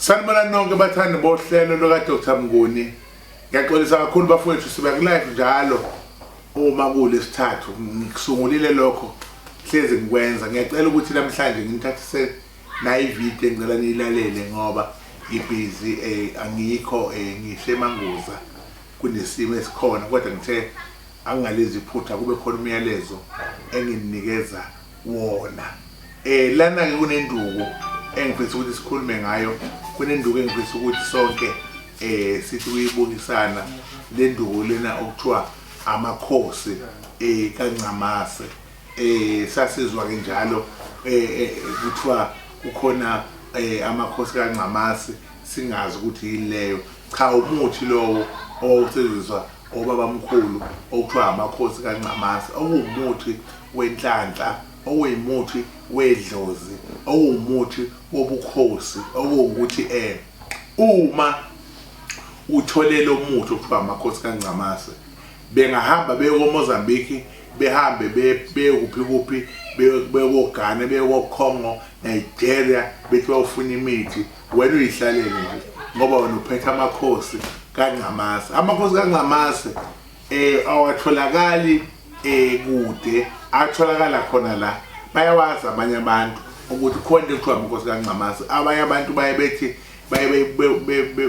sanibona nonke bathandi bohlelo lukadr mnguni ngiyaxolisa kakhulu bafowethu siba kulive njalo uma kulesithathu ngikusungulile lokho hlezi ngikwenza ngiyacela ukuthi namhlanje ngimthathise nayo ividiyo engicela niyilalele ngoba ngibhizi um eh, angikho um eh, ngisemanguza Kunesimo esikhona kodwa ngithe angingalenzi iphutha kube khona umyalezo enginikeza wona. Eh lana ke kunenduku engifisa ukuthi sikhulume ngayo kunenduku engifisa ukuthi sonke eh sithi kuyibukisana lenduku lena okuthiwa amakhosi eh kaNcamase eh sasizwa ke njalo eh, eh kuthiwa kukhona eh amakhosi kaNcamasi singazi ukuthi yileyo cha umuthi lowo owawusebenziswa obaba mkhulu okuthiwa amakhosi kaNcamasi okuwumuthi wenhlanhla okuyimuthi wedlozi okuwumuthi wobukhosi okuwukuthi eh uma uthole lo muthi okuthiwa amakhosi kaNcamasi Bengahamba beye koMozambique, behambe beye kuphi kuphi, beye koGhana, beye koCongo, Nigeria, bethi bayofuna imithi. Wena uyihlalele nje ngoba wena uphethe amakhosi kaNgcamase. Amakhosi kaNgcamase eh awatholakali eh kude, atholakala khona la. Bayawazi abanye abantu ukuthi khona into ekuthiwa amakhosi kaNgcamase. Abanye abantu baye bethi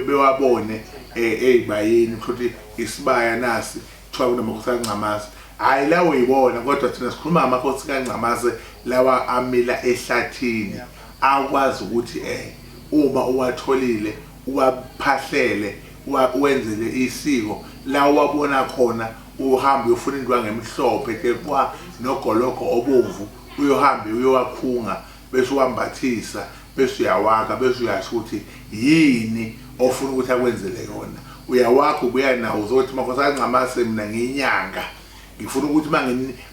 bewabone eh, eyibayeni ukuthi isibaya nasi kuthiwa kunamakhosi kancamazi hhayi lawo yibona kodwa thina sikhuluma amakhosi kancamazi lawa amila ehlathini akwazi ukuthi um uma uwatholile uwaphahlele wenzele isiko la wabona khona uhambe uyofuna indwangu emhlophe tekwa nogologo obomvu uyohambe uyowakhunga bese uwambathisa bese uyawakha bese uyasho ukuthi yini ofuna ukuthi akwenzele yona uyawakha ubuya nawo uzothi makhosana ngamase mina ngiyinyanga ngifuna ukuthi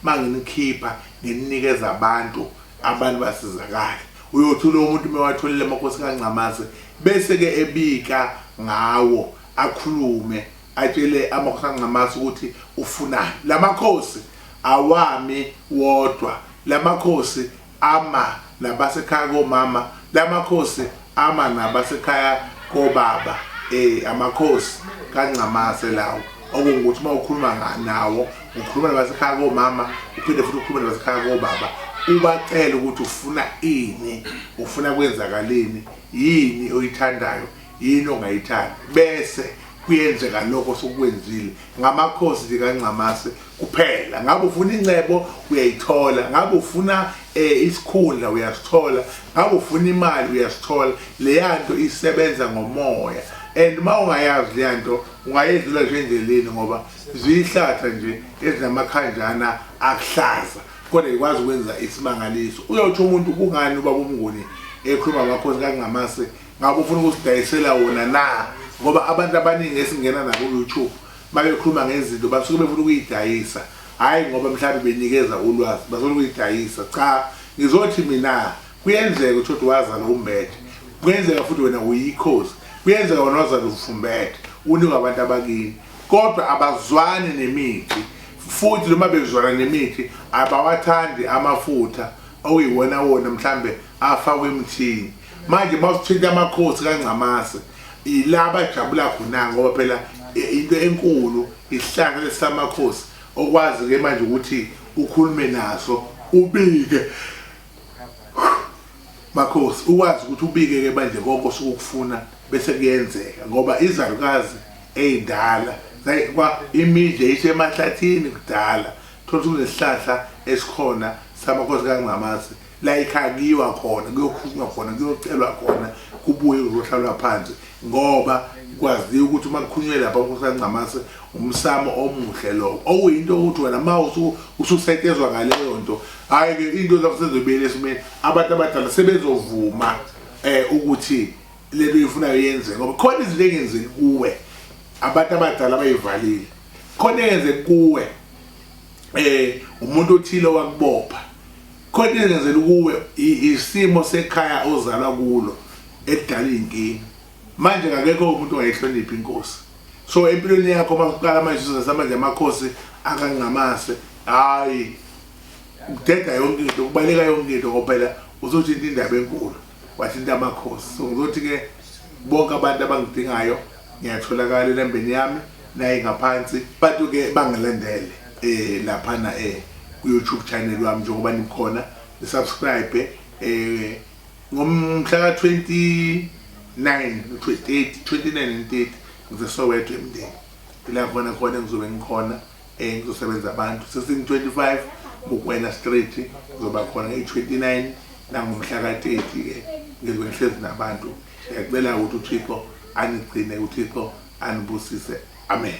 manginikhipha ngininikeza abantu abantu basizakale uyothi lo muntu uma watholile amakhosi kancamase bese-ke ebika ngawo akhulume atshele amakhosi kancamase ukuthi ufunani la makhosi awami wodwa la makhosi ama nabasekhaya komama lamakhosi ama nabasekhaya kobaba eh amakhosi kaNcamase lawo okungukuthi uma ukhuluma nga- nawo ukhuluma nabasekhaya komama uphinde futhi ukhulume nabasekhaya kobaba ubacele ukuthi ufuna ini ufuna kwenzakaleni yini oyithandayo yini ongayithandi bese kuyenzeka lokho sokwenzile ngamakhosi likaNcamase kuphela ngabe ufuna incebo uyayithola ngabe ufuna eh, isikhundla uyasithola ngabe ufuna imali uyasithola leya nto isebenza ngomoya and uma ungayazi leya nto ungayedlula nje endleleni ngoba ziyihlaza nje ezinamakhanjana akuhlaza kodwa ikwazi ukwenza isimangaliso uyawuthi umuntu kungani ubaba umnguni ekhuluma ngamakhosi kakungamase ngabe ufuna ukusidayisela wona na ngoba abantu abaningi esingena nabo ku-youtube babekhuluma ngezinto basuke befuna ukuyidayisa hhayi ngoba mhlawumbe benikeza ulwazi basuke ukuyidayisa cha ngizothi mina kuyenzeka ukuthi uthi wazala umbethe kuyenzeka futhi wena uyikhozi kuyenzeka wena wazala ufumbethe unikwa abantu abakini kodwa abazwani nemithi futhi noma bezwana nemithi abawathandi amafutha okuyiwona wona mhlambe afakwe emthini manje mawusithinta amakhosi kaNgcamase ilaba ajabula khona ngoba phela into enkulu isihlanga lesamakhosi okwazi ke manje ukuthi ukhulume naso ubike makhosi ukwazi ukuthi ubike ke manje konke osukufuna bese kuyenzeka ngoba izalukazi eyindala kwa imidle isemahlathini kudala thola ukuthi kunesihlahla esikhona samakhosi kaNgcamase la ekhaya kuyiwa khona kuyokhulunywa khona kuyocelwa khona kubuye kuzohlalwa phansi ngoba kwaziwa ukuthi uma kukhulunywe lapha kusancamase umsamo omuhle lowo okuyinto ukuthi wena ma ususetshezwa ngaleyo nto hhayi-ke into zakho sezobuyela esimeni abantu abadala sebezovuma um ukuthi le nto yifunayo yenzeke ngoba khona izinto engenzeki kuwe abantu abadala bayivalile khona engenzeki kuwe um umuntu othile wakubopha Khona engenzeli kuwe isimo sekhaya ozalwa kulo edala inkinga. Manje kakekho umuntu ongayihloniphi inkosi. So empilweni yakho masuqala manje sizasa manje amakhosi akangcamase. Hayi. Udeda yonke into, ubaleka yonke into ngoba phela uzothi into indaba enkulu. Wathinta amakhosi. So ngizothi ke bonke abantu abangidingayo ngiyatholakala elembeni yami naye ngaphansi bantu ke bangilandele eh laphana eh ku YouTube channel wami njengoba nikhona ni subscribe eh ngomhla ka 29 28 29 and 30 ngizosoweto emndeni ila khona khona ngizobe ngikhona eh kuzosebenza abantu sesini-25 bukwena street kuzoba khona i-29 nangomhla ka-30 ke ngizwe nihlezi nabantu ngiyacela ukuthi uthixo anigcine uthixo anibusise amen